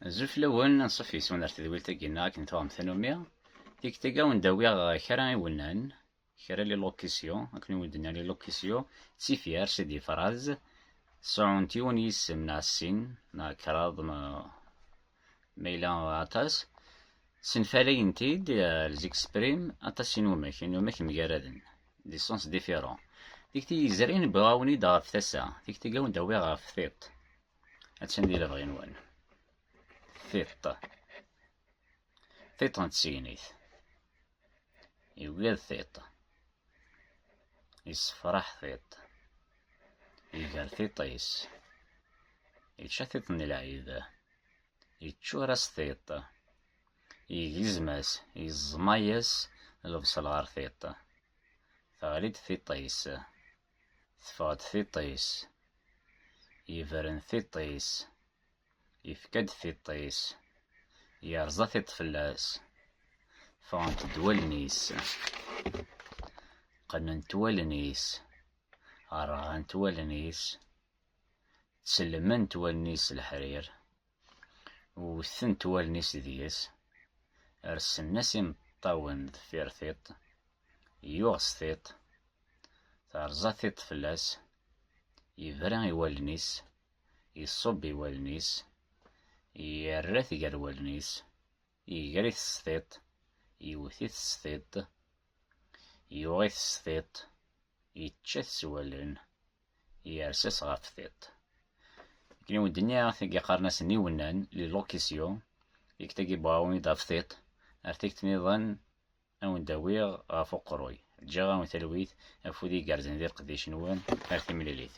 Azul fell-awen, anṣuf yes-wen ar tedwilt-agi-nneɣ akken tuɣem tanumi. Tikti-agi awen d-awiɣ kra iwennan, kra lilukisyu, akken i wen-d-nnan lilukisyu, d tifyar, c'est des phrases, sɛunt yiwen yisem neɣ sin neɣ kraḍ ma ma yella aṭas, ssenfalayent-id, elles expriment, aṭas inumak, inumak mgaraden, des sens différents. Tikti yezrin, wwiɣ-awen-id ɣef tasa, tikti-agi awen d-awiɣ ɣef tiṭ. Attan di lebɣi-nwen. Tiṭ. Tiṭ n tsegnit. Yugad tiṭ. Yessefraḥ tiṭ. Iger tiṭ-is. Yečča tiṭ n lɛid. Yeččur-as tiṭ. Yegzem-as, yeẓma-as lebṣel ɣer tiṭ. Teɣli-d tiṭ-is. Teffeɣ-d tiṭ-is. Yebren tiṭ-is. Yefka-d tiṭ-is. Yerẓa tiṭ fell-as. Ffɣent-d wallen-is. Qqnent wallen-is. Rɣant wallen-is. Ttselment wallen-is s leḥrir. Wwtent wallen-is deg-s, rsen-as imeṭṭawen deffir tiṭ, yuɣ s tiṭ, terẓa tiṭ fell-as, yebra i wallen-is, iṣubb i wallen-is, yerra-t gar wallen-is. Iger-it s tiṭ, iwet-it s tiṭ, yuɣ-it s tiṭ, yečča-t s wallen, yers-as ɣef tiṭ. Akken i wen-d-nniɣ, tagi qqaren-asen iwennan, li locution, igt agi bɣawen-id ɣef tiṭ, ar tikt niḍen ad wen-d-awiɣ ɣef uqerruy. Ǧǧiɣ-awen talwit, afud igerrzen di leqdic-nwen, ar timlilit.